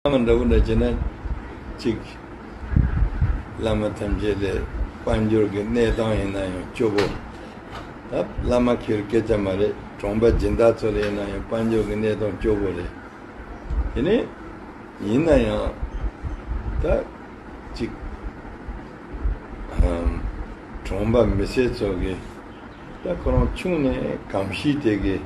བླ་མ་འདྲ་པོ་འདྲ་བྱེད་ན་ཅིག། བླ་མ་ཐམས་ཅད་ལས་དཔལ་འབྱོར་གྱི་གནས་སྟངས་ཡིན་ན་ཡང་སྐྱོ་པོ། ད་བླ་མ་ཁྱེད་སྐད་ཆ་མ་རེད་གྲོང་པ་སྦྱིན་བདག་ཚོ་ལ་ཡིན་ན་ཡང་དཔལ་འབྱོར་གྱི་གནས་སྟངས་སྐྱོ་པོ་རེད། དེ་ནས་ཡིན་ན་ཡང་ད་ཅིག། གྲོང་པ་མི་སེར་ཚོ་གིས་ད་ཁོ་རང་ཆུང་ནས་གང་ཤེས་དེ་གིས།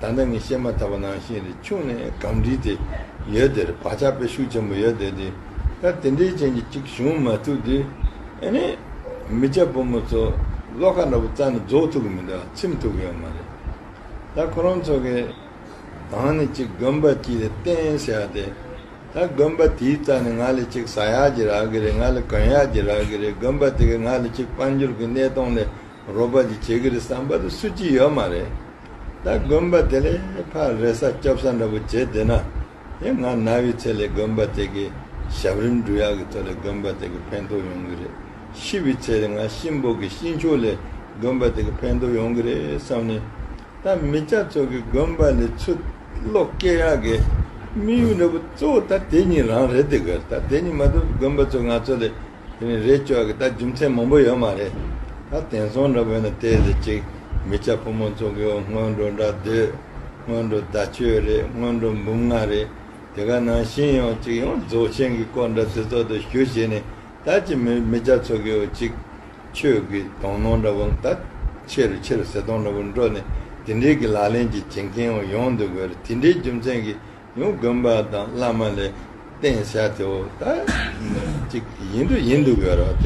ད་ལྟ་ངས་བཤད་མ་ཐག་པ་ནང་བཞིན་རི་ཆུང་ནས་གངས་རིའི་དེ་ཡོད་དེར་བག་ཆགས་དཔེ་ཤུགས་ཆེན་པོ་ཡོད་དེ་དེ་ལྟར་དེ་འདྲའི་རྐྱེན་གྱིས་གཅིག་བྱུང་མ་ཐུབ་དུས་ཨེ་ནས་མི་སྐྱ་བུ་མོ་ཚོ་བློ་ཁ་འདྲ་པོ་རྩ་ནས་རྫོགས་ཐུབ་ཀྱི་མི་འདུག་ཚིམ་ཐུབ་ཀྱི་ཡོད་མ་རེད་ད་ཁོ་རང་ཚོ་གིས་གང་ནས་གཅིག་དགོན་པ་གཅིག་ལས་བརྟེན་ཟེར་བ་དེ་ད་དགོན་པ་དེའི་རྩ་ནས་ང་ལས་གཅིག་ཟ་ཡག་གྱི་རག་གི་རེད་ང་ལས་གོན་ཡག་གྱི་རག་གི་རེད་དགོན་པ་དེ་གས་ང་ལས་གཅིག་དཔལ་འབྱོར་གྱི་གནས་སྟངས་ལས། རོགས་པ་ཅིག་བྱེད་གི་རེད་བསམ་པ་དེ་སུ་གཅིག་ཡོད་མ་རེད་ད་དགོན་པ་དེ་ལས་ཕ་རེ་ས་སྐྱོབ་ས་འདྲ་པོ་བྱེད་བསྡད་ན་དེ་ང་ན་བའི་ཚེ་ལས་དགོན་པ་དེ་གི་ཞབས་རིམ་འབྲུ་ཡག་གི་ཐོག་ལས་དགོན་པ་དེ་གི་ཕན་ཐོག་ཡོང་གི་རེད་ཤི་བའི་ཚེ་ལས་ང་གཤིན་པོ་གི་གཤིན་ཆོག་ལས་དགོན་པ་དེ་གི་ཕན་ཐོག་ཡོང་གི་རེད་བསམ་ནས་ད་མི་སྐྱ་ཚོ་གི་དགོན་པ་ལས་ཆུ་གློག་སྐྱེ་ཡག་གི་དམིགས་ཡུལ་འདྲ་པོ་གཙོ་བོ་ད་དེ་གཉིས་རང་རེད་དེ་གི་ད་དེ་གཉིས་མ་ཐུབ་དགོན་པ་ཚོ་ང་ཚོ་ལས་དེ་ནི་རེད་ཅོག་གི་ད་རྒྱུ་མཚན་མང་པོ་ཡོད་མ་རེད་ད་དེང་སང་འདྲ་བོ་ན་བལྟས་ཟེར་ཅིག་མི་ཆ་ཕོ་མོ་ཚོ་གིའོ་སྔོན་འགྲོ་འདྲ་སྡོད་སྔོན་འགྲོ་ཟླ་ཆོས་རེད་སྔོན་འགྲོ་འབུམ་ལྔ་རེད་དེ་ག་ནང་བཞིན་ཡོང་ཅིག་ཡོང་རྫོགས་ཆེན་གི་སྐོར་འདྲ་ཚེ་སྲོག་ཏུ་ཞུ་བྱེད་ནི་ད་ཅི་མི་མི་ཆ་ཚོ་གིའོ་ཅིག་ཆོས་ཀི་དོང་ནོང་འདྲ་བོ་ད་ཆེ་རུ་ཆེ་རུ་ཟེར་དོང་འདྲ་བོ་འགྲོ་ནི་དེ་འདྲིའི་གི་ལག་ལེན་གྱི་བྱེད་མཁན་ཡོང་འདུག་གི་རེད་དེ་འདྲའི་རྒྱུ་མཚན་གི་ཡང་དགོན་པ་དང་བླ་མ་ལས་བསྟན་བྱ་དེའོ། ད་ཅིག་ཡིན་དུ་ཡིན་འདུག་ཡོད་རོགས་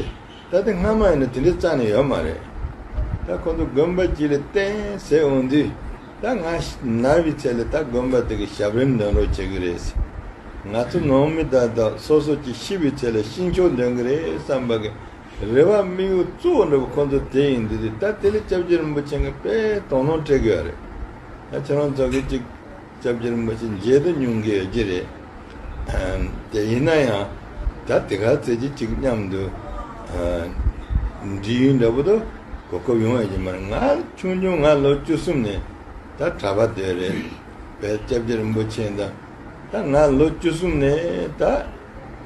དེ། ད་དེ་སྔ་མ་ཡིན་ན་དེ་འདྲའི་རྩ་ནས་ཡོད་མ་རེད། ད་ཁོང་ཚོ་དགོན་པ་གཅིག་ལས་བསྟན་ཟེར་འོང་དུས། ད་ང་ནར་བའི་ཚད་ལས་ད་དགོན་པ་དེ་གི་ཞབས་རིམ་འདོན་རོགས་བྱེད་གི་རེད། ང་ཚོ་ནང་མི་དག་དག་སོ་སོ་ཀྱི་ཤི་བའི་ཚད་ལས་ཤིང་ཆོག་འདོན་གི་རེད་བསམ་པ་གི། རེ་བ་དམིགས་ཡུལ་གཙོ་བོ་འགྲོ་བ་ཁོང་ཚོ་དེ་ཡིན་འདུག་དུས་ད་དེ་ལས་སྐྱབས་རྗེ་རིན་པོ་ཆེ་འགའ་དཔེ་དོགས་སྣང་སྤྲད་གི་ཡོད་རེད། ད་ཁྱེད་རང་ཚོ་གི་ཅིག། སྐྱབས་རྗེར་མ་ཅི་མཇལ་དུ་སྙུང་གི་ཡོད་ཀྱི་རེད། དེ་ཡིན་ན་ཡང་ད་དེ་གར་བཙལ་གྱི་ཅིག་སྙམ་དུ། འདྲི་ཡུལ་འདྲ་པོ་དུ་གོ་སྐབས་ཡོང་ཡོད་ཀྱི་མ་རེད་ང་ཆུང་ཆུང་ང་ལོ་བཅུ་གསུམ་ནས་ད་གྲྭ་པ་དེ་རེད་བས་སྐྱབས་རྗེ་རིན་པོ་ཆེ་འདི་ད་ང་ལོ་བཅུ་གསུམ་ནས་ད་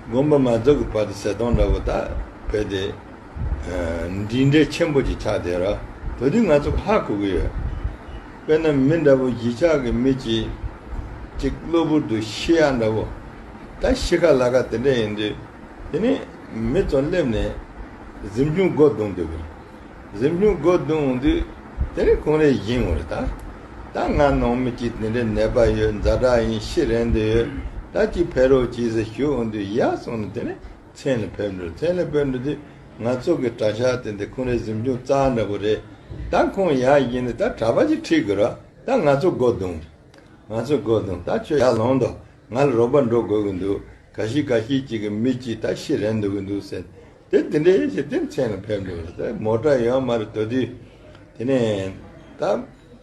དགོན་པ་མ་རྫོགས་ཀྱི་བར་དུ་ཟས་སྟོང་འདྲ་པོ་ད་བོས་ཏེ། འདྲིས་འདྲེ་ཆེན་པོ་ཅིག་ཆགས་དེ་ར་བོས་དུས་ང་ཚོ་ལྷ་གོ་གི་ཡོད། དཔེར་ན་མི་འདྲ་བོ་བཞི་ཆགས་ཀྱི་མི་གཅིག་གཅིག་གློ་བུར་དུ་ཤི་ཡ་འདྲ་བོ། ད་ཤི་ཁ་ལ་ཁ་དེ་འདྲ་ཡིན་དུས་དེ་ནས་མི་ཚོ་སླེབས་ནས་གཟིམ་ཆུང་སྒོ་རྡུང་འདོད་གི་རེད། གཟིམ་ཆུང་སྒོ་རྡུང་འོང་དུས་དེ་རིང་གུང་རེ་བཞིན་འོང་རེད་ད། ད་ང་ནང་མི་གཅིག་དེ་འདྲའི་ནད་པ་ཡོད་མཛའ་གྲགས་ཡིན་ཤི་རན་དུ་ཡོད་ད་ཅིག་ཕེབས་རོགས་གྱིས་ཟེར་ཞུ་འོང་དུས་ཡ་སོང་ནས་དེ་ནས་མཚན་ལ་ཕེབས་འགྲོ་མཚན་ལ་ཕེབས་འགྲོ་དེ་ང་ཚོ་གི་གྲྭ་ཤག་དེ་འདི་ཁོང་རེ་གཟིམ་ཆུང་རྩ་འདྲ་པོ་རེད་ད་ཁོང་ཡག་ཡིན་ནི་ད་གྲྭ་པ་ཅིག་ཁྲིད་དགོས་རོགས་ད་ང་ཚོ་སྒོ་རྡུང་ང་ཚོ་སྒོ་རྡུང་ད་ཁྱོད་ཡར་ལོངས་དོ་ང་ལ་རོགས་པ་འགྲོ་དགོས་གི་འདུག་ག་ཤི་ག་ཤི་ཅིག་གི་མི་གཅིག་ད་ཤི་རན་འདུག་གི་འདུག་ཟེར་དེ་དེ་འདྲས་ཞེས་དེ་མཚན་ལ་ཕེབས་འགྲོ་ཟེར་མོ་གྲྭ་ཡོང་མ་རེད་དོ་དུས་དེ་ནས་ད་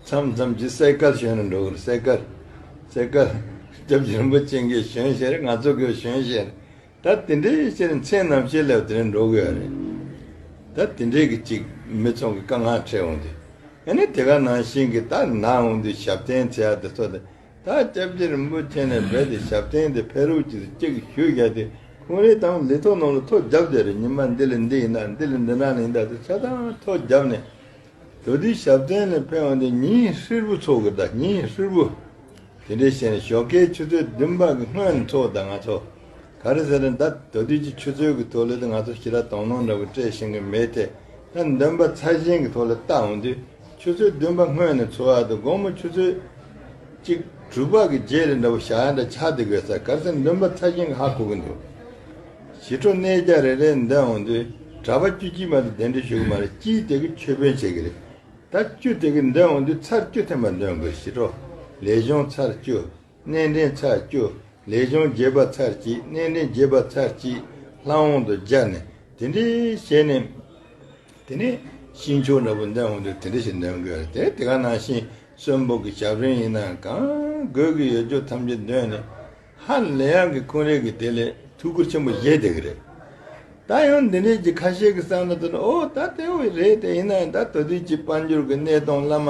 མཚམས་མཚམས་ཀྱི་གསེར་སྐལ་ཞོན་རེ་འགྲོ་གི་རེད་གསེར་སྐལ་གསེར་སྐལ་སྐྱབས་རྗེ་རིན་པོ་ཆེ་འགའི་ཞོན་ཞེས་རེད་ང་ཚོ་གི་ཞོན་ཞེས་རེད། ད་དེ་འདྲའི་ཕྱིར་མཚན་ནམ་ཤེས་ལེའུ་དེ་རིང་འགྲོ་གི་ཡོད་རེད། ད་དེ་འདྲའི་གི་ཅིག་མི་ཚོང་གི་དཀའ་ངལ་འཕྲད་འོང་དུས། ཡང་ན་དེ་ག་ནང་བཞིན་གི་ད་ནང་འོང་དུས་ཞབས་བརྟན་ཚེ་ཡག་དེ་ཚོ་དེ་ད་སྐྱབས་རྗེ་རིན་པོ་ཆེ་ནས་འབད་དེ་ཞབས་བརྟན་དེ་ཕེ་རུ་ཅིག་ཏུ་ཅིག་ཞུས་བཞག་དུས་ཁུང་རེའི་དང་ལི་ཐོག་ནང་ལ་ཐོ་བརྒྱབ་བསྡད་རེད་ཉི་མ་འདི་ལས་འདི་ཡིན་ན་འདི་ལས་འདི་ནང་ལ་ཡིན་ད་དུ་ཆ་ཚང་ཐོ་བརྒྱབ་ནས་དོ་དུས་ཞབས་བརྟན་ནས་ཕེབས་འོང་དེ་ཉིན་ཧྲིལ་པོ་འཚོགས་གི་ད་ཉིན་ཧྲིལ་པོ། དེ་འདྲའི་ཞེ་ནས་ཞོགས་ཀའི་ཆུ་ཚོད་བདུན་པ་གི་སྔོན་འཚོགས་ད་ང་ཚོ། ག་རེ་ཟེར་ན་ད་དོ་དུས་ཀྱི་ཆུ་ཚོད་ཀྱི་ཐོག་ལས་ད་ང་ཚོ་ཞི་ར་དོང་ནོང་འདྲ་བོ་སྤྲད་ཤེས་གི་མེད་དེ། ད་འདོན་པ་ཚ་ཞིང་གི་ཐོག་ལས་བལྟ་འོང་དུས་ཆུ་ཚོད་བདུན་པ་སྔོན་ནས་འཚོགས་ཡག་དུ་དགོང་མོ་ཆུ་ཚོད་གཅིག་དྲུག་པ་གི་རྗེས་རེད་འདྲ་བོ་བཞག་ཡག་འདྲ་ཆགས་དུས་དགོས་ས་ག་རེ་ཟེར་འདོན་པ་ཚ་ཞིང་གི་ཧ་གོ་གི་འདུག། ཞི་ཁྲོ་གནས་བརྒྱ་རེ་རེ་འདི་འོང་དུས་གྲྭ་པ་བཅུ་གཅིག་མ་དང་དེ་འདྲ་ཞུགས་ཀྱི་མ་རེད་སྤྱིའི་དེ་གི་ཆོས་དཔོན་བྱེད་ཀྱི་རེད། ད་བཅུ་དེ་གི་འདི་འོང་དུས་ཚར་བཅུ་ཐེངས་པ་འདོན་དགོས་ཞི་ཁྲོ་ལས་གཞུང་ཚར་བཅུ། གནས་འདྲེན་ཚར་བཅུ། ལས་གཞུང་རྒྱས་པ་ཚར་གཅིག་གནས་འདྲེན་རྒྱས་པ་ཚར་གཅིག། ལྷ་འོང་དུ་སྦྱར་ནས་དེ་འདྲས་བྱས་ནས། དེ་ནས་ཤིང་མཆོག་འདྲ་པོ་འདི་འོང་དུས་དེ་འདྲ་ཞིག་འདོན་དགོས་རེད་དེ་དེ་ག་ནང་བཞིན་གསོན་པོ་གི་ཞབས་རིང་ཡིན་ན་གང་དགོས་ཀྱི་ཡོད་ཆོས་ཐམས་ཅད་འདོན་ནས། ཧ་ལས་ཡང་གི་ཀུན་རིག་གི་དེ་ལས་ཐུགས་ཁུར་ཆེན་པོ་བཞེས་དེ་གི་རེད། ད་ཡང་འདི་འདྲས་ཀྱི་ཁ་ཤས་ཀྱི་བསམ་བློ་དོར་ནས་ཨོ་ད་དེ་འོས་རེད་དེ་ཡིན་ན་ཡང་ད་དོ་དུས་ཀྱི་དཔལ་འབྱོར་གི་གནས་སྟངས་བླ་མ་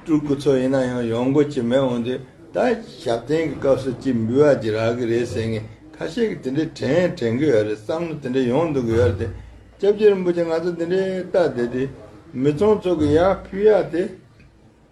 སྤྲུལ་སྐུ་ཚོ་ཡིན་ན་ཡང་ཡོང་དགོས་ཀྱི་མེད་འོན་ཏེ་ད་ཞབས་བརྟན་གི་སྐབས་སུ་ཅིག་འབུལ་བ་ཅིག་རག་གི་རེད་ཟེར་ངེས་ཁ་ཤས་ཀྱི་དེ་འདྲས་དྲན་དྲན་གི་ཡོད་རེད་བསམ་བློ་དེ་འདྲས་ཡོང་འདུག་གི་ཡོད་རེད་དེ་སྐྱབས་རྗེ་རིན་པོ་ཆེ་ང་ཚོ་འདི་འདྲས་བལྟ་བསྡད་དུས་མི་ཚོང་ཚོགས་ཀྱི་ཡར་ཕུད་ཡར་དེ།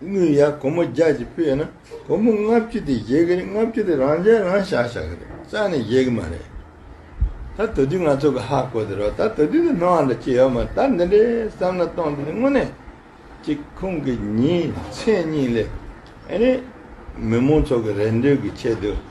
དངུལ་ཡར་སྒོར་མོ་བརྒྱ་གཅིག་སྤོས་ན་སྒོར་མོ་ལྔ་བཅུ་དེ་བཞེས་ཀྱི་རེད་ལྔ་བཅུ་དེ་རང་འཇལ་རང་བྱ་བྱ་གི་རེད་རྩ་ནས་བཞེས་ཀྱི་མ་རེད། ད་ད་དུས་ང་ཚོ་གི་ཧ་གོ་དེ་རོགས་ད་ད་དུས་དེ་སྣང་བ་འདྲ་ཅི་ཡོད་མ་རེད་ད་འདི་འདྲའི་བསམ་ན་སྟོང་དེ་དེ་དངོས་གནས་ཅིག་ཁོང་གི་ཉིན་མཚན་གཉིས་ལས་ཨེ་རེད། མི་མང་ཚོ་གི་རེ་འདོད་ཀྱི་ཆེད་དུ།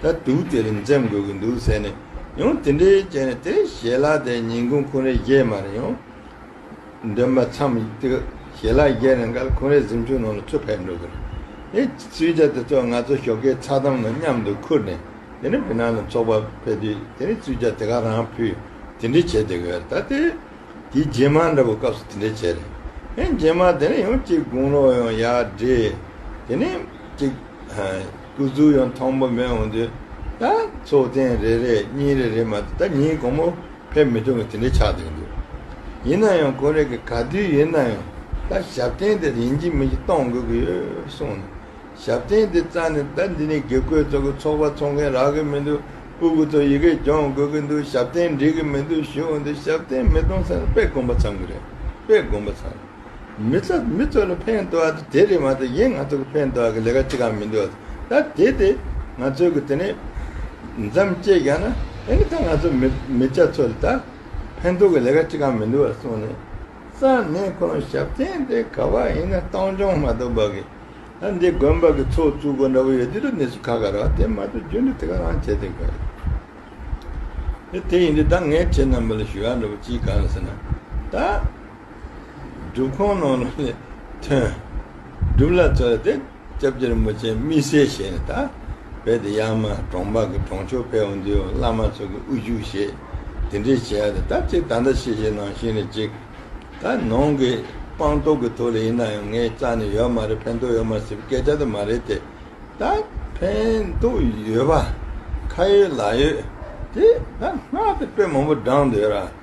ད་དུག་དེ་རིང་འཛེམ་དགོས་ཀྱི་འདུག་ཟེར་ནས་ཡང་དེ་འདྲའི་བྱས་ནས་དེ་ཞལ་ལག་དེ་ཉིན་གུང་ཁུང་རེ་བཞེས་མ་རེ་ཡོང། འདོན་པ་མཚམས་དེ་ཞལ་ལག་བཞེས་ནས་འགར་ཁུང་རེ་གཟིམ་ཆུང་ནང་ལ་ཚུར་ཕེབས་འགྲོ་གི་རེད། དེ་སུས་ཇག་དེ་ཚོ་ང་ཚོ་ཞོགས་ཀའི་ཚགས་དམ་ནང་མཉམ་དུ་ཁུར་ནས་དེ་རིང་བི་ནང་ལ་འཚོགས་པ་ཕེབས་དུས་དེ་རིང་སུས་ཇག་དེ་ག་རང་ཕུད་དེ་འདྲས་བྱས་དེ་ག་རེད་ད་དེ་དེའི་རྗེས་མ་འདྲ་བོ་སྐབས་སུ་དེ་འདྲས་བྱས་རེད། ཧེ་རྗེས་མ་དེ་རིང་ཡང་གཅིག་དགུང་ལོ་ཡང་ཡག་འདྲེས་དེ་རིང་གཅིག། སྐུ་གཟུགས་ཡང་ཐང་མོ་མེ་འོང་དུས། ད་ཚོགས་རྟེན་རེ་རེ་གཉིས་རེ་རེ་མ་ད་ཉིན་གོང་མོ་ཕེབས་མི་ཐུབ་ངོ་དེ་འདྲའི་ཆགས་སྡང་འདུག་ཡིན་ན་ཡང་ཁོ་རེ་གི་ག་དུས་ཡིན་ན་ཡང་ད་ཞབས་རྟེན་དེར་ཡིན་གྱི་མིན་གྱི་གཏོང་དགོས་ཀྱི་ཡོད་གསུངས་ནས་ཞབས་རྟེན་དེ་རྩ་ནས་ད་འདི་ནས་དགེ་བསྐོས་ཚོགས་ཀྱི་ཚོགས་པ་ཚོགས་མཁན་རག་གི་མི་འདུག་སྤུ་གུ་ཚོ་ཡི་གེ་སྦྱོང་དགོས་ཀྱི་འདུག་ཞབས་རྟེན་འགྲིག་གི་མི་འདུག་ཞུས་འོང་དུས་ཞབས་རྟེན་མི་གཏོང་ས་ནི་དཔེ་དགོན་པ་ཚང་གི་རེད་དཔེ་དགོན་པ་ཚང་མི་ཚོ་མི་ཚོ་ནི་ཕན་འདོགས་དེ་དེ་རེད་མ་ཏེ་ཡིན་ང་ཚོ་གི་ཕན་འདོགས་ཀྱི་ལས་ཀ་གཅིག་གམ་མི་འདུག་ད་དེ་དེ་ང་ཚོའི་གི་དེ་ནས་འཇམ་བསྐྱེད་རྒྱག་ན་དེ་ནི་ད་ང་ཚོ་མི་མི་སྐྱ་ཚོ་ལ་ད་ཕན་འདོགས་ཀྱི་ལས་ཀ་གཅིག་གམ་མི་འདུག་གསུངས་ནས་སང་ཉིན་ཁོ་རང་ཞབས་བརྟན་དེ་ག་བ་ཡིན་ན་སྟོང་རྐྱང་མ་གཏོགས་འབག་གི་ད་འདི་དགོན་པ་གི་ཚོགས་བཙུགས་སྒོ་འདྲ་བོ་ཡོད་དེ་དུ་ནས་སུ་ཁ་ག་རོགས་དེ་མ་གཏོགས་རྒྱུ་འདི་དེ་ག་རང་བྱེད་དེ་ག་རེད་དེ་ཡིན་དུས་ད་ངས་ཁྱེད་རྣམས་པ་ལ་ཞུ་ཡག་འདྲ་བོ་གཅིག་ག་རེད་ཟེར་ན་ད། སྒྲུབ་ཁང་ནང་ལ་ལས་ཐོན། སྒྲུབ་ལ་རྩོལ་ཏེ་སྐྱབས་རྗེར་མུ་ཆེན་སྨིན་སྲས་བཞེས་ནས་ད་བས་ཏེ་ཡར་མ་གྲོང་འབག་གི་གྲོང་ཆོག་ཕལ་བ་འདུལ་བ་བླ་མ་ཚོགས་ཀྱི་དབུ་འཇུག་ཞེས་དེ་འདྲས་བྱས་ཏེ་ད་ཅིག་ད་ལྟ་ཤེས་བྱའི་ནང་བཞིན་རེད་ཅིག། ད་ནང་གི་སྤངས་རྟོགས་ཀྱི་ཐོག་ལ་ཡིན་ན་ཡང་ངས་རྩ་ནས་ཡོད་མ་རེད་ཕན་ཐོགས་ཡོད་མ་ཟེར་བའི་སྐད་ཆ་དེ་མ་རེད་དེ། ད་ཕན་ཐོགས་ཡོད་པ་ཁ་ཡོད་ལག་ཡོད་དེ་ད་སྔགས་དེ་དཔེ་མང་པོ་བགྲང་འདོད་ར།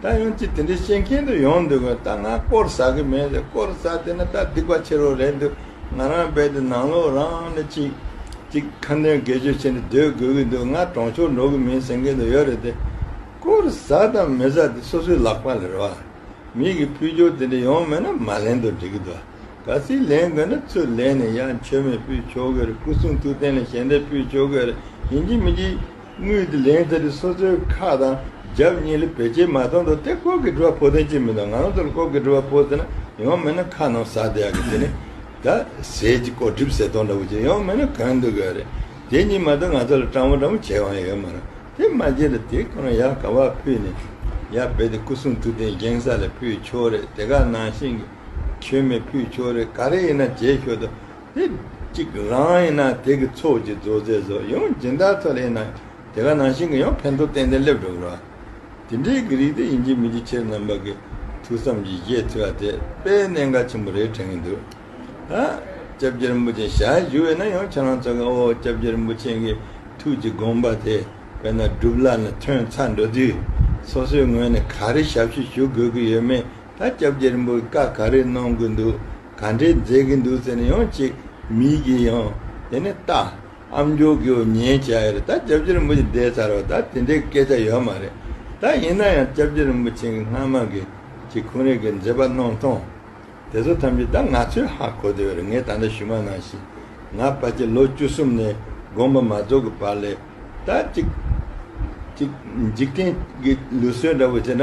ད་ཡང་ཅི་དེ་འདྲའི་བཤད་མཁན་དུ་ཡོང་འདུག་གོ་ད་ང་སྐོར་ཟ་གི་མེད་ཟེར་སྐོར་ཟ་དེ་ན་ད་སྡིག་པ་ཆེ་རུ་རེད་འདུག་ང་རང་རྦད་དེ་ནང་ལོག་རང་ནས་ཅིག་ཅིག་ཁ་འདོན་དགེ་སྤྱོད་བྱེད་ནས་སྡོད་དགོས་ཀྱི་འདུག་ང་གྲོང་ཆོག་འགྲོ་གི་མིན་ཟེར་མཁན་དུ་ཡོད་རེད་དེ། སྐོར་ཟ་དང་མི་ཟ་དེ་སོ་སོའི་ལག་པ་ལས་རེད་བ། མིག་གི་འཕུལ་སྦྱོར་དེ་འདྲ་ཡོང་མེད་ན་མ་ལེན་དུ་འགྲིག་གི་འདུག་བ། ག་ཚིག་ལེན་དགོས་ན་ཚུར་ལེན་ནས་ཡང་མཆོད་མེ་ཕུལ་ཆོག་གི་རེད་སྐུ་གསུང་ཐུགས་རྟེན་ལས་གཞན་འདྲ་ཕུལ་ཆོག་གི་རེད་ཡིན་གྱི་མིན་གྱི། དངུལ་དེ་ལེན་ཚེ་རི་སོ་སོའི་ཁག་དང་རྒྱབ་གཉིས་ལས་བེད་སྤྱད་མ་གཏོང་དོ་དེ་ཁོག་གི་དྲི་བ་ཕོག་དོན་ཅི་མི་འདུག་ང་རང་ཚོ་ལ་ཁོག་གི་དྲི་བ་ཕོག་ཟེར་ན་ཡོང་མེད་ན་ཁ་རྣམས་ཟག་བསྡད་ཡག་གི་དེ་ནི་ད་ཟས་ཀྱི་ལྐོག་གྲིབ་ཟས་སྟོང་འདྲ་བོ་ཅིག་ཡོང་མེད་ན་གང་འདུག་གི་རེད་དེ་གཉིས་མ་གཏོགས་ང་ཚོ་ལ་སྤྲང་བོ་འདྲ་མོ་བྱས་དབང་ཡོད་མ་རང་དེ་མ་བྱས་ལ་དེ་ཁོ་རང་ཡར་ག་བ་ཕུད་ནས་ཡར་བེད་དེ་སྐུ་གསུང་ཐུགས་རྟེན་བཞེངས་ས་ལ་ཕུད་ཆོག་རེད་དེ་ག་ནང་བཞིན་གྱི་མཆོད་མེ་ཕུད་ཆོག་རེད་ག་རེ་ཡིན་ན་བྱེད་ཤོག་དོ། དེ་གཅིག་རང་ཡིན་ན་དེ་གི་ཚོགས་ཀྱི་རྫོགས་ཚད་གཟུགས་ཡང་སྦྱིན་བདག་ཚོ་ལ་ཡིན་ན་དེ་ག་ནང་བཞིན་གི་ཡང་ཕན་ཐོགས་ཏན་ཏན་སླེབས་འགྲོ་གི་རོ། དེ་འདྲའི་གི་རིགས་དེ་ཡིན་གྱི་མིན་གྱི་ཕྱིར་རྣམ་པ་གི་ཐུགས་བསམ་གྱི་གཞས་ཚིག་བ་དེ་དཔེ་གནད་འགག་ཆེན་པོ་རེད་དྲན་གི་འདུག་ད། ྋསྐྱབས་རྗེ་རིན་པོ་ཆེ་ཞལ་བཞུགས་ཡོད་ན་ཡང་ཁྱེད་རང་ཚོ་གི་ཨོ ྋསྐྱབས་རྗེ་རིན་པོ་ཆེན་གི་ཐུགས་ཀྱི་དགོངས་པ་དེ་དཔེར་ན་སྒྲུབ་བླ་ནས་ཐོན་ཚར་འགྲོ་དུས་སོ་སོའི་ངོས་ནས་ག་རེ་ཞབས་ཕྱི་ཞུ་དགོས་གི་ཡོད་མེད། ད་སྐྱབས་རྗེ་རིན་པོ་བཀའ་ག་རེ་གནང་གི་འདུག་ག་འདྲའི་མཛད་ཀྱི་འདུག་ཟེར་ནས་ཡང་ཅིག་མིག་གིས་ཡང་དེ་ནས་ལྟ། ཨ་མཆོག་གིས་འོ་ཉན་བྱས་ཡོད་རེད་ད་སྐྱབས་རྗེ་རིན་པོ་ཆེ་འདས་ཚར་བ་ད་དེ་འདྲའི་སྐད་ཆ་ཡོད་མ་རེད་ད་ཡིན་ན་ཡང་སྐྱབས་རྗེ་རིན་པོ་ཆེ་གི་སྔ་མ་གི་གཅིག་ཁོང་རེ་གི་མཛད་པ་གནང་སྟངས་དེ་ཚོ་ཐམས་ཅད་ད་ང་ཚོས་ཧ་གོ་དེ་ཡོད་རེད་ངས་ད་ལྟ་ཞུ་མ་གནང་ཞིག་ང་ཕ་ཁྱི་ལོ་བཅུ་གསུམ་ནས་དགོངས་པ་མ་རྫོགས་གི་བར་ལས་ད་ཅིག་ཅིག་འཇིག་རྟེན་གི་ལུས་སྲོལ་འདྲ་བོ་བྱས་ན།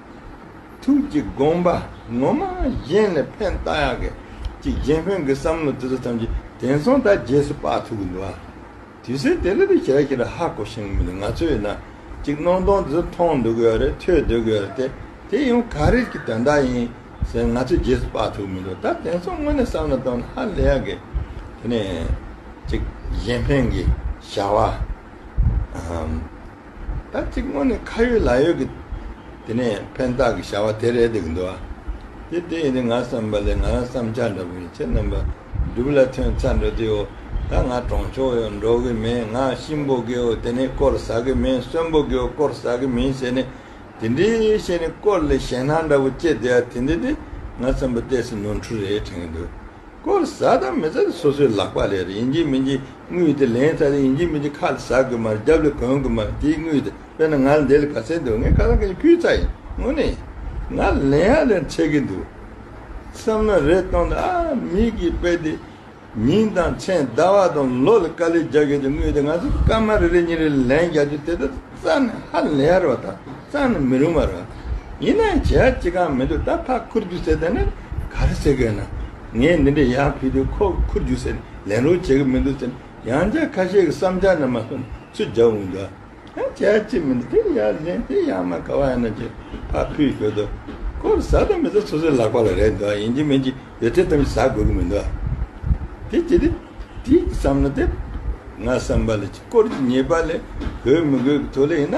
ཐུགས་ཀྱི་དགོངས་པ་ངོ་མ་གཞན་ལས་ཕན་བཏགས་ཡག་གི་གཅིག་གཞན་ཕན་གི་བསམ་བློ་དེ་ཚོ་ཐམས་ཅད་དེང་སང་ད་རྗེས་སུ་དཔག་ཐུབ་གི་འདུག་ཨ། དུས་ཚོད་དེ་རིང་དུ་ཞལ་གྱི་ར་ཧ་གོ་ཞིང་མི་འདུག་ང་ཚོས་ཡིན་ན་གཅིག་སྣང་སྟོང་དེ་ཚོ་མཐོང་སྡོད་དགོས་ཡ་རེད་ཐོས་སྡོད་དགོས་ཡ་རེད་དེ་དེ་ཡང་ག་རེ་གྱི་དོན་དག་ཡིན་ཟེར་ང་ཚོས་རྗེས་སུ་དཔག་ཐུབ་གི་མི་འདུག་ད་དེང་སང་དངོས་གནས་བསམ་བློ་གཏོང་ན་ཧ་ལས་ཡག་གི། དེ་ནས་གཅིག་གཞན་ཕན་གྱི་བྱ་བ། ད་ཅིག་སྔོན་ནས་ཁ་ཡོད་ལག་ཡོད་ཀྱི། དེ་ནས་ཕན་བཏགས་ཀྱི་བྱ་བ་དེ་རེད་འདུག་འདུག་ཨ། དེ་དེ་ཡིན་ནི་ང་བསམ་པ་ལས་ང་རང་བསམ་འཆར་འདྲ་པོ་ཡིན་ཁྱེད་རྣམ་པ་སྒྲུབ་ལ་ཐོན་ཚར་འགྲོ་དུས་ཨོ་ད་ང་གྲོང་ཆོག་ཡོད་འགྲོ་གི་མེད་ང་གཤིན་པོ་དགེ་བོ་དེ་ནས་སྐོར་ཟ་གི་མིན་གསོན་པོ་དགེ་བོ་སྐོར་ཟ་གི་མིན་ཟེར་ནས་དེ་འདྲའི་བཤད་ནས་སྐོར་ལས་ཞེན་སྣང་འདྲ་པོ་སྐྱེས་དེ་ཨ་དེ་འདི་དེ་ང་བསམ་པ་ལྟས་སུ་ནོར་འཁྲུལ་རེད་དྲན་གྱི་འདུག་སྐོར་བཟའ་དང་མི་བཟའ་དེ་སོ་སོའི་ལག་པ་ལས་རེད་ཡིན་གྱི་མིན་གྱི་དངུལ་དེ་ལེན་ཚར་རེད་ཡིན་གྱི་མིན་གྱི་ཁ་ལ་ཟ་དགོས་མ་རེད་རྒྱབ་ལ་གོན་དགོས་མ་རེད་དེའི་དངུལ་དེ་དཔེར་ན་ང་ལ་འདི་ལ་ག་ཚད་འདུག་ངས་ཁ་སང་གི་ནས་ཕུལ་ཚར་ཡིན་དངོས་གནས་ང་ལ་ལེན་ཧ་ལས་འཕྲད་གི་འདུག་བསམ་ན་རེ་སྟོང་དང་ཨ་མིག་གིས་དཔེ་དེ་ཉིན་དང་མཚན་ཟླ་བ་དང་ལོ་ལ་དཀའ་ལས་རྒྱག་གི་འདུག་དངུལ་དེ་ང་ཚོ་སྐར་མ་རེ་རེ་གཉིས་རེ་ལ་ལེན་རྒྱག་རྒྱུ་དེ་ལྟར་བསམ་ནས་ཧ་ལས་ཡག་རེད་བ་དང་གཙང་ནི་མི་རུང་བ་རེད། ཡིན་ནའང་བྱས་ཡག་ཅི་གང་མི་འདུག་ད་ཕ་ཁུར་རྒྱུག་ཟེར་ད་ནི་ག་རེ་ཟེར་གི་ན། ངས་འདི་འདྲའི་ཡག་ཕུལ་དུས་ཁོ་ཁུར་རྒྱུག་ཟེར་ནས་ལེན་རོགས་བྱེད་ཀྱི་མི་འདུག་ཟེར་ནས་ཡང་བསྐྱར་ཁ་ཤས་ཀྱི་བསམ་འཆར་རྣམས་མ་གསུངས་ནས་ཚུར་རྒྱག་འོང་གི་འདུག་ཨ། བྱས་ཡག་ཅི་མི་འདུག་དེ་ཡག་གཞན་དེ་ཡག་མ་ག་བ་ཡང་ན་ཅེས་ཕ་ཕུལ་གྱི་འདུག་ཁོ་ལ་ཟ་དང་མི་ཟ་སོ་སོའི་ལག་པ་ལ་རེག་འདུག་ཡིན་གྱི་མིན་གྱི་ཡོད་ཚད་ཙམ་ཞིག་ཟ་དགོས་ཀྱི་མི་འདུག་དེ་ཅི་སྟེ། དེའི་བསམ་བློ་དེ། ང་བསམ་པ་ལ་ཅིག་སྐོར་གྱི་ཉེས་པ་ལས་གོས་མི་དགོས་ཀྱི་ཐོག་ལས་ཡིན་ན།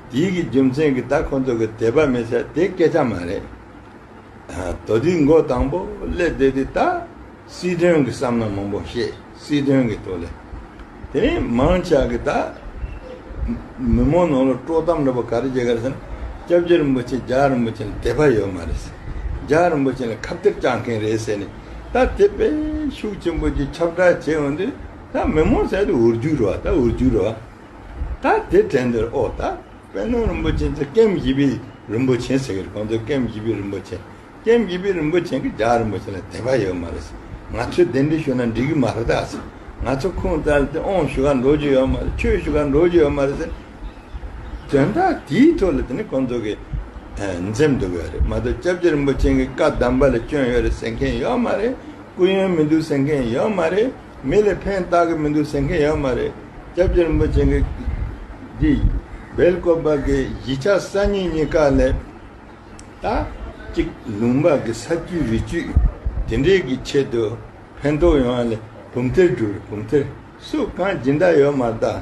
ཡིད་ཀྱི་རྒྱུ་མཚན་གྱིས་ད་ཁོ་ཚོ་གི་དད་པ་མི་བྱ་དེ་སྐད་ཆ་མ་རེད། དོ་དེའི་མགོ་དང་པོ་ཀླད་དེ་དེ་ད་སྲིད་དོན་གྱི་བསམ་ན་མང་པོ་ཤེས་སྲིད་དོན་གྱི་ཐོག་ལས། དེ་རིང་མང་ཆགས་གི་ད་མི་མང་ནང་ལ་དཀྲོག་གཏམ་རེ་བ་ག་རེ་བྱེད་ག་རེ་བསམ་སྐྱབས་རྗེ་རིན་པོ་ཆེ་རྒྱ་རིན་པོ་ཆེ་ལ་དད་པ་ཡོད་མ་རེད་རྒྱ་རིན་པོ་ཆེ་ལ་ཁ་བཏེག་བཅག་མཁན་རེད་ཟེར་ནས་ད་དེ་པས་ཤུགས་ཆེན་པོ་གྱིས་ཁྱབ་བསྒྲགས་བྱེད་འོན་དུས་ད་མི་མང་ཟད་དུ་འུར་རྒྱུག་རེ་བ་ད་འུར་རྒྱུག་རེ་བ། ད་དེ་དྲན་འདིར་ཨོ་ད་པད་ནོར་རིན་པོ་ཆེན་གྱི་སྐེམ་བཞི་པའི་རིན་པོ་ཆེན་ཟེར་གི་རེད་ཁོང་ཚོས་སྐེམ་བཞི་པའི་རིན་པོ་ཆེན་སྐེམ་བཞི་པའི་རིན་པོ་ཆེན་གྱི་ལྗགས་རིན་པོ་ཆེན་ལ་དད་པ་ཡོད་མ་རེད་ང་ཚོས་དེ་འདྲའི་ཞུ་ན་འགྲིག་གི་མ་རེད་ད་ང་ཚོ་ཁུངས་བཙལ་ཏེ་ཨོང་ཞུ་ག་འགྲོ་རྒྱུ་ཡོད་མ་རེད་ཆོས་ཞུ་ག་འགྲོ་རྒྱུ་ཡོད་མ་རེད་ཟེར་དོན་དག་དེའི་ཐོག་ལ་དེ་ནི་ཁོང་ཚོ་གི་འཛེམ་འདུག་ཡོད་རེད་མ་གཏོགས་སྐྱབས་རྗེ་རིན་པོ་ཆེན་གྱི་བཀའ་གདམས་པ་ལ་སྐྱོན་ཡོད་རེད་ཟེར་མཁན་ཡོད་མ་རེད་སྐུ་ཡོན་མི་འདུག་ཟེར་མཁན་ཡོད་མ་རེད། མི་ལ་ཕན་བཏགས་ཀྱི་མི་འདུག་ཟེར་མཁན་ཡོད་མ་རེད། སྐྱབས་རྗེ་རིན་པོ་ཆེ་གིས། འདི། བལ་སྐོར་བར་གྱི་གཞིས་ཆགས་གསར་རྙིང་གཉིས་ཀ་ལས། ད། གཅིག་ལུང་པར་གྱི་ས་བཅུའི་རི་བཅུད། དེ་འདྲའི་གྱི་ཆེད་དུ་ཕན་ཐོགས་ཡོང་བ་ལས་བུམ་ཐེར་བསྒྲུབས་རེད་བུམ་ཐེར་སུ་གང་ཇི་འདྲ་ཡོད་མ་གདའ།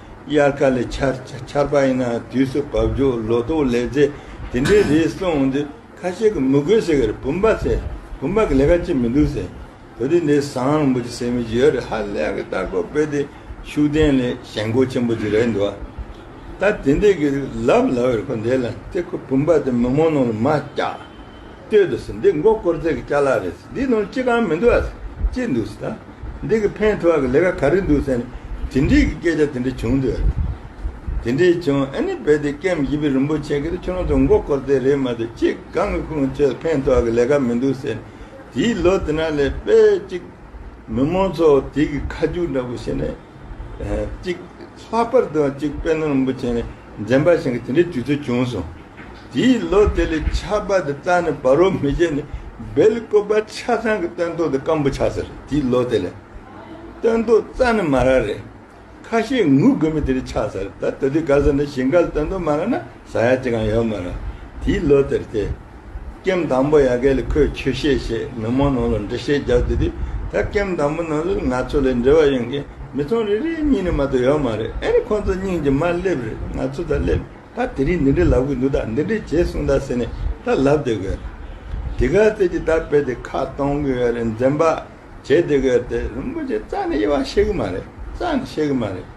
དབྱར་ཁ་ལས་ཆར་ཆར་པ་ཡིན་ན་དུས་སུ་བབ་རྒྱུ་ལོ་ཏོག་ལས་རྫས་དེ་འདྲའི་རིགས་བསྲུང་འོང་དུས་ཁ་ཤས་ཀྱིས་མི་དགོས་ཟེར་གི་རེད་བུམ་པ་ཟེར་བུམ་པ་གི་ལས་ཀ་ཅི་མི་འདུག་ཟེར་བོད་དུས་འདི་བཟང་རིང་པོ་ཅིག་ཟེར་མི་ཞིག་ཡོད་རེད་ཧ་ལས་གི་ལྟ་སྐོར་བོད་དེ་ཤུགས་ལྡན་ལས་ཞན་སྒོ་ཆེན་པོ་ཅིག་རེད་འདུག་ད་དེ་འདྲས་ཀྱི་ལབ་ལབ་རེད་ཁོ་འདས་ལ་དེ་ཁོ་བུམ་པ་དེ་མི་མང་ནང་ལ་མ་བསྐྱགས། ལྟོས་འདུག་ཟེར་འདི་མགོ་བསྐོར་རྫས་ཀྱི་བཅའ་ལག་རེད་ཟེར་འདིའི་ནང་ཅི་གང་མི་འདུག་ཨ་ཟེར་ཅི་འདུག་ཟེར་ད་འདི་གི་ཕན་ཐོག་གི་ལས་ཀ་ག་རེ་འདུག་ཟེར་ནས་དེ་འདྲིའི་གི་སྐད་ཆ་དེ་འདྲ་བྱུང་འདུག་ཨ་ཟེར་དེ་འདྲའི་བྱུང་ཨ་ནི་རྦད་དེ་སྐེམ་བཞི་པའི་རིན་པོ་ཆེ་གིས་ཁྱོད་རང་ཚོ་མགོ་བསྐོར་རྫས་རེད་མ་འདུག་ཅི་གང་གི་ཁུངས་ཁྱོད་ཕན་ཐོག་གི་ལས་ཀ་མི་འདུག་ཟེར་ནས་དེའི་ལོ་དེ་ན་ལས་དཔེ་གཅིག་མི་མང་ཚོ་དེ་གི་ཁ་མཆུ་འདྲ་པོ་བྱེད་ནས་གཅིག་ལྷག་པར་དུ་གཅིག་དཔལ་ནོར་རིན་པོ་ཆེ་ནི། འཛེམ་པ་ཞིག་གིས་དེ་འདྲའི་དུས་ཚོད་བྱུང་སོང། དེའི་ལོ་དེ་ལས་ཆར་པ་དེ་གཙང་ནས་བར་བོ་མི་བྱེད་ནས་སྦེལ་ཀོབ་པ་ཆ་ཚང་གི་སྟོན་ཐོག་དེ་སྐམ་པོ་ཆགས་ས་རེད་དེའི་ལོ་དེ་ལས། སྟོན་ཐོག་རྩ་ནས་མ་རག་རེད། ཁ་ཤས་ངུ་དགོས་མེད་དེ་རིགས་ཆགས་ས་རེད་ད་ད་དུས་ག་ས་ནས་ཞིང་ཁ་ལ་སྟོན་ཐོག་མ་རག་ན་ཟ་ཡག་ཅི་གང་ཡོད་མ་རག་དེའི་ལོ་དེར་དེ། སྐྱེམས་དང་པོ་ཡ་གས་ལ་ཁོས་ཁྱོད་བཤད་བྱས་མི་མང་ནང་ལ་འདྲི་བཤད་རྒྱག་དུས་དེ་ད་སྐྱེམས་དང་པོ་ནང་ལ་ང་ཚོ་ལས་འབྲེལ་བ་ཡོད་མཁན་མི་ཚང་རེ་རེའི་སྙིང་ནས་མ་གཏོགས་ཡོད་མ་རེད་ཨེ་རེད་ཁོང་ཚོ་སྙིང་རྗེ་མ་སླེབས་རེད་ང་ཚོ་ད་སླེབས་ད་དེ་རིང་འདི་འདྲི་ལབ་གི་འདུག་ད་འདི་འདྲི་བྱེད་གསུངས་ད་ཟེར་ནས་ད་ལབ་བསྡད་གི་ཡོད་རེད་དེ་ག་ཚད་ཀྱི་ད་དཔེ་དེ་ཁ་གཏོང་གི་ཡོད་རེད་འཛེམ་བག་བྱེད་བསྡད་གི་ཡོད་རེད་དེ་རིན་པོ་ཆེ་རྩ་ནས་དབྱེ་བ་ཤེས་གི་མ་རེད་རྩ་ནས་ཤེས་གི་མ་རེད།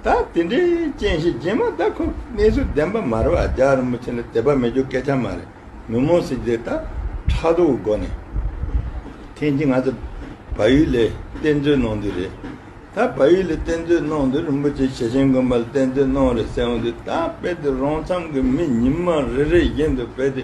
ད་དེ་འདྲའི་རྐྱེན་ཤས་རྗེས་མ་ད་ཁོ་གནས་ཚུལ་བདེན་པ་མ་རེད་བ་རྒྱ་རིན་པོ་ཆེ་ལ་དད་པ་མེད་རྒྱུ་སྐད་ཆ་མ་རེད་ཉོན་མོངས་སྲིད་རྗེས་ད་ཕྲག་དོག་གི་སྒོ་ནས་ཐེངས་གཅིག་ང་ཚོ་བ་ཡུལ་ལས་གཏེར་མཛོད་གནང་དུས་རེད་ད་བ་ཡུལ་ལས་གཏེར་མཛོད་གནང་དུས་རིན་པོ་ཆེ་ཞེ་ཆེན་དགོན་པ་ལ་གཏེར་མཛོད་གནང་རེད་ཟེར་འོང་དུས་ད་དཔེ་དེ་རང་འཚམས་ཀྱི་མི་ཉིན་མ་རེ་རེ་བཞིན་དུ་དཔེ་དེ་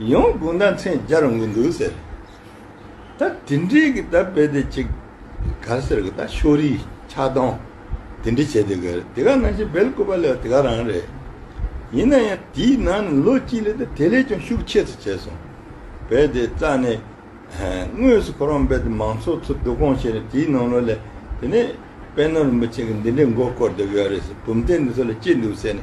ཡང་དགུང་ཟླ་མཚན་བརྒྱ་རུ་ངུ་འདུག་ཟེར། ད་དེ་འདྲའི་གི་ད་དཔེ་དེ་གཅིག། ག་ཟེར་གི་ད་ཤོ་རིའི་ཆགས་སྡང་དེ་འདྲ་བྱེད་དེ་ག་རེད་དེ་ག་ནང་བཞིན་བལ་བཀོད་པ་ལས་དེ་ག་རང་རེད། ཡིན་ན་ཡང་དེའི་ནང་ནས་ལོ་གཅིག་ལས་ད་དེ་ལས་ཀྱང་ཤུགས་ཆེ་ཚུལ་བྱས་སོང། བལ་དེ་རྩ་ནས། དངོས་སུ་ཁོ་རང་བལ་དེ་མང་ཚོགས་ཚོ་སྡུག་གོང་བྱས་ནས་དེའི་ནང་ལོ་ལས་དེ་ནས་བལ་ནོར་མི་ཆེ་གི་འདི་འདྲའི་མགོ་བསྐོར་དེ་ག་རེད་ཟེར་བུམ་གཏན་འདི་ཚོ་ལ་ཅི་འདུག་ཟེར་ནས།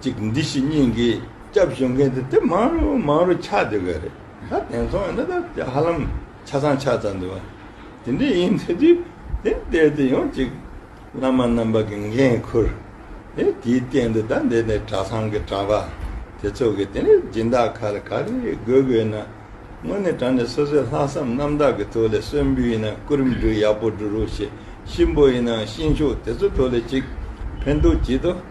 ཅིག་འདི་ཞིག་སྙིང་གི་སྐྱབས་གཞོལ་མཁན་དེ་དེ་མང་རུ་མང་རུ་ཆགས་འདོད་གི་རེད་ད་དེང་སང་ནི་ད་ཧ་ལམ་ཆ་ཚང་ཆགས་ཚར་འདུག་བ་དེ་འདྲ་ཡིན་ཚེ་དུས་དེ་འདས་དུས་ཡང་ཅིག་བླ་མ་རྣམ་པ་གི་འགན་ཁུར་ཨེ་དེའི་སྟེང་དུ་ད་འདས་ནས་གྲྭ་ཚང་གི་གྲྭ་པ་དེ་ཚོ་གི་དེ་ནས་སྦྱིན་བདག་ཁ་ལ་ག་རེ་དགོས་དགོས་ཡིན་ན་དངོས་གནས་གྲྭ་ནས་སོ་སོའི་ལྷག་བསམ་རྣམ་དག་གི་ཐོག་ལས་གསོན་འབུལ་ཡིན་ན་སྐུ་རིམ་འགྲུལ་ཡག་པོ་འགྲུ་རུ་ཞེས་གཤིན་པོ་ཡིན་ནའང་གཤིན་ཤོག་དེ་ཚོ་ཐོག་ལས་ཅིག་ཕན་ཐོག་བགྱིད་དོ།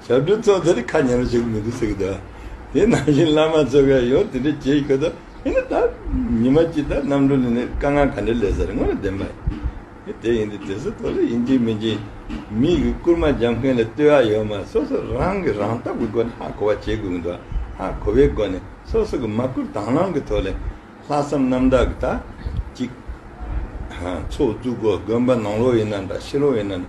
བྱ་སྒྲོ་གཙོ་དེར་ཁ་ཉེ་རུ་བྱེད་ཀྱི་མི་འདུག་ཟེར་གྱི་འདུག་དེ་ནང་བཞིན་བླ་མ་གཙོས་མཁན་ཡོངས་དེ་འདྲས་བྱེད་ཀྱི་འདུག་ཨེ་ད། ཉི་མ་སྐྱིད་ད་གནམ་གྲུ་ནས་ནི་དཀའ་ངལ་ག་འདྲས་ལས་ཟེར་དངོས་ནས་བདེན་པ་ཡིན། དེ་ཡིན་དུས་དེ་ཚོ་དོགས་ལས་ཡིན་གཅིག་མིན་གཅིག། མིག་གིས་བསྐུར་མ་འཇམ་མཁན་ལ་ལྟོས་ཨ་ཡོད་མ་སོ་སོ་རང་གིས་རང་བལྟ་བའི་སྒོ་ནས་ཧ་གོ་བ་བྱེད་དགོས་ཀྱི་འདུག་ཨ་ཧ་གོ་བའི་སྒོ་ནས་སོ་སོ་གིས་མ་བསྐུར་དྭང་བླང་གི་ཐོག་ལས། ལྷག་བསམ་རྣམ་དག་གིས་ད། གཅིག། ཧ། ཚོགས་བཙུགས་སྒོ་དགོན་པ་ནང་ལོགས་ཡིན་ན་འདྲ་ཕྱི་ལོགས་ཡིན་ན་འདྲ་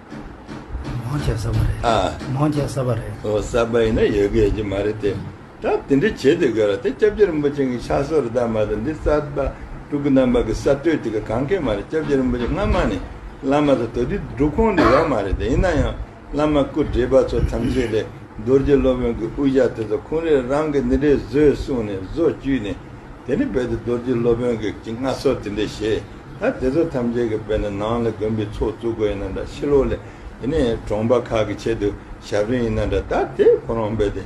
མང་ཆེ་ས་པ་རེད། ཨ། མང་ཆེ་ས་པ་རེད། ཨོ་ས་པ་ཡིན་ན་ཡོད་གེ་ཅི་མ་རེད་དེ། ད་དེ་འདྲི་བྱེད་དེ་ག་ར་དེ་སྐྱབས་རྗེ་རིན་པོ་ཆེ་གི་ཕྱག་སྲོལ་རི་དྭགས་མ་དང་འདི་གསར་པ་དྲུག་གི་རྣམ་པ་གི་གསར་གཏོད་དེ་ག་གང་གེ་མ་རེད་སྐྱབས་རྗེ་རིན་པོ་ཆེ་སྔ་མ་ནས་བླ་མ་ཚོ་དོ་དི་སྒྲུབ་ཁོངས་དེ་ཡོག་མ་རེད་དེ་ཡིན་ན་ཡང་བླ་མ་སྐུ་བགྲེས་པ་ཚོ་ཐམས་ཅད་ལས་རྡོ་རྗེ་སློབ་དཔོན་གི་དབུ་ཞྭ་དེ་ཚོ་ཁོང་རེ་རང་གི་ནི་རེ་བཟོས་གསུངས་ནས་བཟོ་བཅུས་ནས་དེ་ནི་རྦད་དེ་རྡོ་རྗེ་སློབ་དཔོན་གི་ཀྱི་སྔ་སོར་དེ་འདྲས་བྱས། ད་དེ་ཚོ་ཐམས་ཅད་ཀྱི་དཔེ་ན་ནང་ལ་དགོན་པའི་ཚོགས་བཙུགས་དགོས་ཡིན་ན་འདྲ་ཕྱི་ལོགས་ལས་དེ་ནས་གྲོང་པ་ཁག་གི་ཆེད་དུ་ཞབས་རིན་ཡིན་ན་འདྲ་ད་དེ་ཁོ་རང་རྦད་དེ་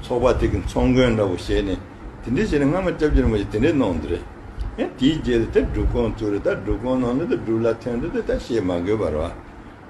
ཚོགས་པ་དེ་གི་ཚོགས་མགོན་འདྲ་བོ་བྱས་ནས་དེ་འདྲས་བྱས་ན་སྔ་མ་སྐྱབས་རྗེ་རིན་པོ་ཆེ་དེ་འདྲས་གནང་འདུག་རེད་ཡང་དེའི་རྗེས་ལ་དེ་སྒྲུབ་ཁང་བཙུགས་རེད་ད་སྒྲུབ་ཁང་ནང་ལ་དེ་སྒྲུབ་ལ་ཐོན་འདུག་དེ་ད་བཤད་མ་དགོས་པར་བ་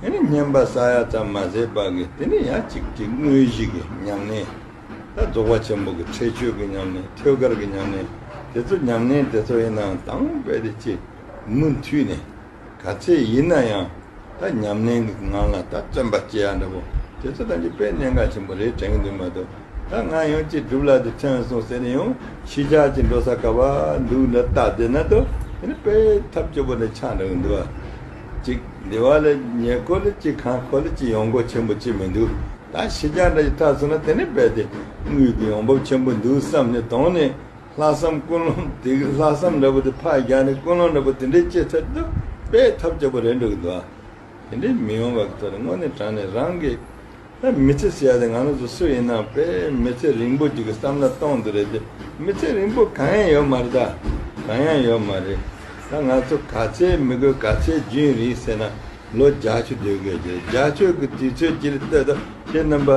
དེ་ནི་བསྙེན་པ་ས་ཡ་ཙམ་མ་ཟད་པ་གི་དེ་ནི་ཡ་གཅིག་གི་དངོས་གཞི་གི་མྱ་ངན། ད་རྫོགས་པ་ཆེན་པོ་གི་ཁྲེགས་ཆོད་གི་མྱ་ངན་ཐོད་དཀར་གི་མྱ་ངན་དེ་ཚོ་མྱ་ངན་དེ་ཚོ་ཡིན་ནའང་དང་རྦད་དེ་ཅི། མུ་མཐུད་ནས། ག་ཚད་ཡིན་ན་ཡང། ད་ཉམས་ལེན་གི་ངང་ལ་ད་བརྩོན་པ་སྐྱེ་ཡག་འདྲ་པོ་དེ་ཚོ་ད་འཇིག་པའི་གནད་འགག་ཆེན་པོ་རེད་དྲན་གི་འདུག་མ་གཏོགས་ད་ང་ཡང་ཅི་སྒྲུབ་ལ་དེ་ཐོན་སོང་ཟེར་ནས་ཡང་ཤི་ཆགས་ཀྱི་འགྲོ་ས་ག་བ་འདུག་འདྲ་ལྟ་བདེ་ན་ཏོ་དེ་ནི་དཔེ་ཐབས་སྐྱོ་པོ་འདྲ་ཆགས་འདྲ་གི་འདུག་ཨ། ཅིག། འདི་བ་ལས་ཉེ་ཀོ་ལི་ཅི་ཁང་ཁོ་ལི་ཅི་ཡོང་སྒོ་ཆེན་པོ་ཅིག་མི་འདུག་ད་ཤི་རྒྱང་འདྲ་ཡི་ཐག་སོང་ན་དེ་ནས་རྦད་དེ་དངུལ་གྱི་ཡོང་འབབ་ཆེན་པོ་འདུག་བསམ་ནས་དོང་ནས་ལྷག་བསམ་ཀུན་སློང་དེ་གི་ལྷག་བསམ་འདྲ་པོ་དེ་ཕག་རྒྱག་ནས་ཀུན་སློང་འདྲ་པོ་དེ་འདྲའི་སྐྱེ་ཚར་དུ་དཔེ་ཐབས་སྐྱོ་པོ་རེད་འདུག་འདི་བ། དེ་འདྲའི་མི་ཡོང་བ་གི་ཐོག་ནས་དངོས་གནས་དྲང་ནས་རང་གི། མི་ཚེ་ཟེར་ཡ་དེ་ང་རང་ཚོ་སུ་ཡིན་ནམ་དཔེ་མི་ཚེ་རིང་པོ་ཅིག་གི་བསམ་བློ་གཏོང་འདོད་རེད་དེ་མི་ཚེ་རིང་པོ་གང་ཡང་ཡོད་མ་རེད་ད་གང་ཡང་ཡོད་མ་རེད་ད་ང་ཚོ་ག་ཚད་མི་དགོས་ག་ཚད་རྒྱུན་རིང་ཟེར་ན་ལོ་བརྒྱ་ཆུ་སྡོད་དགོས་རེད་བརྒྱ་ཆོད་ཀྱི་དུས་ཚོད་ཀྱི་ལྟོས་ད་ཁྱེད་རྣམ་པ་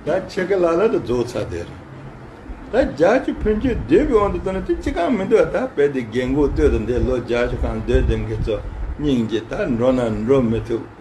ད་ཆེ་གེ་ལ་ལ་ད་རྫོགས་ཚར་དེ་རེད་ད་བརྒྱ་ཆུ་ཕུན་ཆོད་སྡོད་པའི་དབང་དུ་བཏང་ན་དེ་ཅི་གང་མི་འདུག་ད་དཔེ་དེ་རྒན་འགོ་ལྟོས་ད་འདས་ལོ་བརྒྱ་ཆུ་གང་སྡོད་དེ་ཁྱེད་ཚོ་སྙིང་རྗེ་ད་འགྲོ་ན་འགྲོ་མི་ཐུབ།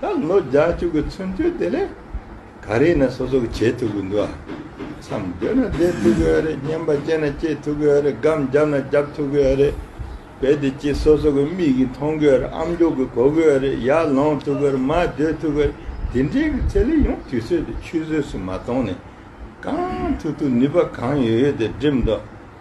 ད་ལོ་བརྒྱ་བཅུ་གི་ཚུན་དུས་དེ་ལས་ག་རེ་ན་སོ་སོ་གི་བྱེད་ཐུབ་ཀྱི་འདུག་བསམ་འདོད་ན་བསྡད་ཐུབ་ཀྱི་རེད་སྙན་པ་སྐྱེས་ན་སྐྱེས་ཐུབ་ཀྱི་རེད་སྒམ་བརྒྱབ་ན་བརྒྱབ་ཐུབ་ཀྱི་རེད་དཔེ་དེ་གཅིག་སོ་སོ་གི་མིག་གིས་མཐོང་ཀྱི་རེད་ཨམ་མདོག་གིས་གོ་ཀྱི་རེད་ཡར་ལོངས་ཐུབ་ཀྱི་རེད་མར་སྡོད་ཐུབ་ཀྱི་རེད་དེ་འདྲའི་གི་ཚད་ལས་ཡང་དུས་ཚོད་དེ་ཆུད་ཟོས་སུ་མ་གཏོང་ནས་གང་ཐུབ་ཐུབ་ནུས་པ་གང་ཡོད་ཡོད་དེ་བསྒྲིམས་འདུག་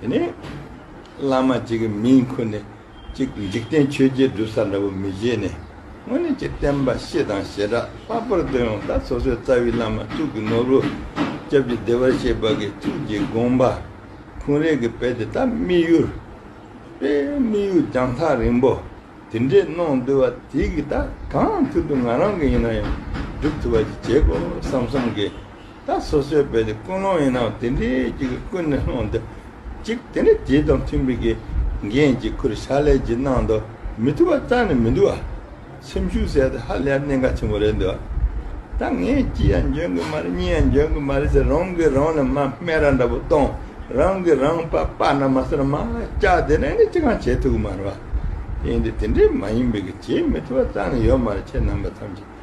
དེ་ནས་བླ་མ་གཅིག་གི་མིང་འཁུར་ནས་ཅིག་འཇིག་རྟེན་ཆོས་རྗེ་བསྒྲུབ་ས་འདྲ་བོ་མི་བཞེས་ནས་སྔོན་ནས་ཅིག་བསྟན་པ་ཤེས་དང་ཞེ་དྲག་ལྷག་པར་དུ་ཡང་ད་སོ་སོའི་རྩ་བའི་བླ་མ་གཙུག་གི་ནོར་བུ་སྐྱབས་ཀྱི་བདེ་བར་གཤེགས་པ་གི་ཐུགས་ཀྱི་དགོངས་པ་འཁུང་རེས་ཀྱི་དཔལ་དེ་དག་དམིགས་ཡུལ་དཔལ་དམིགས་ཡུལ་རྒྱང་ཐག་རིང་པོ་དེ་འདྲས་གནང་འདོད་བ་དེ་གི་དག་གང་ཐུབ་དུ་ང་རང་གི་ཡིན་ན་ཡང་བསྒྲུབ་ཐུབ་པ་ཅིག་བྱེད་དགོས་བསམ་བསམ་གི་ད་སོ་སོའི་དཔེ་དེ་ཀུན་སློང་ཡིན་ནའང་དེ་འདྲའི་གཅིག་གིས་ཀུན་ནས་སློང་འདི་གཅིག་དེ་འདྲའི་རྗེས་དང་མཐུན་པའི་གི་འགན་གཅིག་ཁུར་ཤ་ལས་ཀྱི་གནང་དོ་མི་ཐུབ་པ་རྩ་ནས་མི་འདུག་ཨ། སེམས་ཤུགས་ཟད་དེ་ཧ་ལས་གནད་འགག་ཆེན་པོ་རེད་འདུག་ཨ། ད་ངས་གཅིག་ཡང་འཇོན་གི་མ་རེད་གཉིས་ཡང་འཇོན་གི་མ་རེད་ཟེར་རང་གིས་རང་ལ་མ་སྨད་ར་འདྲ་པོ་གཏོང་རང་གིས་རང་དཔའ་དཔའ་ན་མ་སེར་མ་ལྕགས་དེ་འདྲ་ནི་ཅི་གང་བྱེད་ཐུབ་གི་མ་རེད་བ། དེ་འདྲའི་དེ་འདྲའི་མ་ཡིན་པའི་གི་བྱེད་མི་ཐུབ་པ་རྩ་ནས་ཡོད་མ་རེད་ཁྱེད་རྣམ་པ་ཐམས་ཅད།